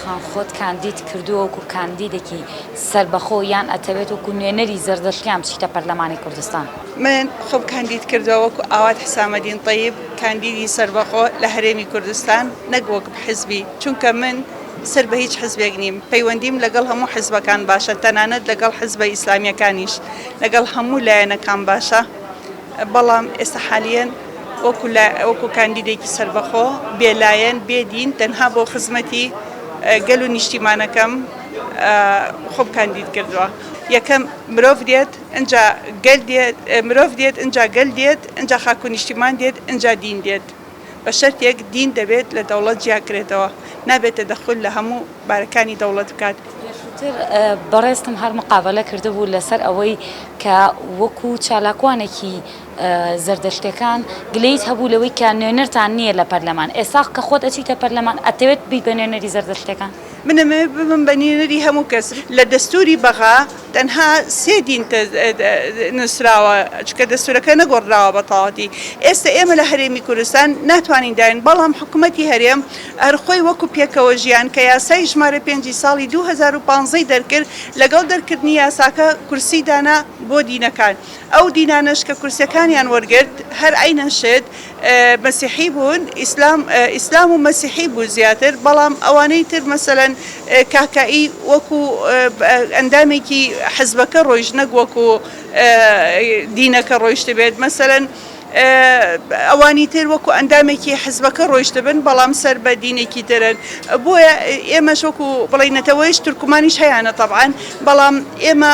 خان، خۆت کاندید کردووە وەکو کاندیدێکی سەربەخۆ یان ئەتەوێت وەکو نوێنەری زەردەشتیان بچیتە پەرلەمانی کوردستان؟ من خۆم کاندید کردووە وەکو ئاوات حسامەدین تەیب، کاندیدی سەربەخۆ لە هەرێمی کوردستان، نەک وەک حزبی، چونکە من سەر بە هیچ حزبێک نیم، پەیوەندیم لەگەڵ هەموو حزبەکان باشە، تەنانەت لەگەڵ حزبە ئیسلامییەکانیش، لەگەڵ هەموو لایەنەکان باشە. بەڵام ئێستا حالیەن وەکو لە وەکو کاندیدێکی سەربەخۆ بێلایەن بێدین تەنها بۆ خزمەتی گەل و نیشتیمانەکەم خۆم کاندید کردووە یەکەم مرۆڤ دێت ئەجا گەل دێت مرۆڤ دێت ئەجا گەل دێت ئەجا خاک و نیشتیمان دێت ئەجا دین دێت بە شەرتێک دین دەبێت لە دەوڵەت جیاکرێتەوە نابێت تەدەخول لە هەموو بارەکانی دەوڵەت بکات. پێشووتر بەڕێزتم هەر مقابەلە کردبوو لەسەر ئەوەی کە وەکو چالاکوانێکی زەردەشتەکان گلەیت هەبوو لەوەی کە نوێنەرتان نییە لە پەرلەمان ئێستا کە خۆت ئەچیتە پەرلەمان ئەتەوێت ببیت بە نوێنەری زەردەشتەکان؟ من ئەمەوێ ببم بە نوێنەری هەموو کەس. لە دەستووری بەغا تەنها سێ دین نووسراوە، چونکە دەستوورەکە نەگۆڕدراوە بە تەواوەتی. ئێستە ئێمە لە هەرێمی کوردستان ناتوانین دابین، بەڵام حکومەتی هەرێم هەر خۆی وەکو پێکەوەژیان کە یاسای ژمارە پێنج ی ساڵی دوو هەزار و پازدە ی دەرکرد، لەگەڵ دەرکردنی یاساکە کورسی دانا بۆ دینەکان. ئەو دینانەش کە کورسییەکانیان وەرگرت هەر عەینەن شت، مەسیحی بوون ئیسلام ئیسلام و مەسیحی بوو زیاتر بەڵام ئەوانەی تر مەسەلەن کاکائی وەکو ئەندامێکی حزبەکە ڕۆیشت نەک وەکو دینەکە ڕۆیشتبێت مەسەلەن ئەوانی تر وەکو ئەندامێکی حزبەکە ڕۆیشتبن بەڵام سەر بە دینێکی ترن بۆیە ئێمەش وەکو بڵێ نەتەوەیش تورکمانیش هەیانە تەبعەن بەڵام ئێمە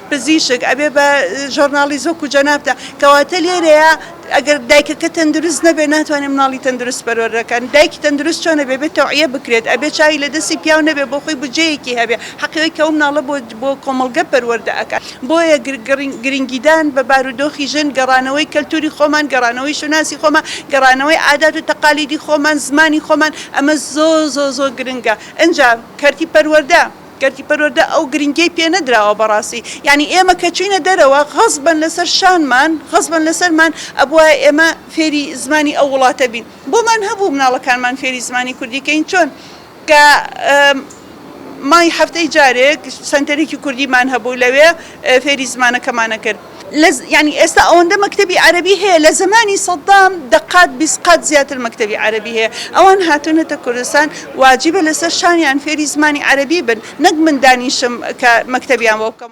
پزیشک ئەبێ بە ژۆرنالیست وەکو جەنابتە کەواتە لێرەیە ئەگەر دایکەکە تەندروست نەبێ ناتوانێ مناڵی تەندروست پەروەردەکەن دایکی تەندروست چۆنە بێ بێ تەوعیە بکرێت ئەبێ چاوی لە دەستی پیاو نەبێ بۆ خۆی بودجەیەکی هەبێ حەقیەوەی کە ئەو مناڵە بۆ بۆ کۆمەڵگە پەروەردە ئەکات بۆیە گرنگیدان بە بارودۆخی ژن گەڕانەوەی کەلتوری خۆمان گەڕانەوەی شوناسی خۆمان گەڕانەوەی عادات و تەقالیدی خۆمان زمانی خۆمان ئەمە زۆ زۆ زۆ گرنگە ئەجا کەرتی پەروەردە گەردی پەروەردە ئەو گرنگیەی پێ نەدراوە بەڕاستی یانی ئێمە کە چوینە دەرەوە غەزبەن لەسەر شانمان غەزبەن لەسەرمان ئەبوایە ئێمە فێری زمانی ئەو وڵاتە بین بۆمان هەبوو مناڵەکانمان فێری زمانی کوردی کەین چۆن کە مای هەفتەی جارێک سەنتەرێکی کوردیمان هەبوو لەوێ فێری زمانەکەمانە کرد. یانی ئێستا ئەوەندە مەکتەبی عەرەبی هەیە لە زەمانی سەدام دەقات بیست قات زیاتر مەکتەبی عەرەبی هەیە ئەوان هاتوونەتە کوردستان واجبە لەسەر شانیان فێری زمانی عەرەبی بن نەک من دانیشم کە مەکتەبیان بۆ بکەم.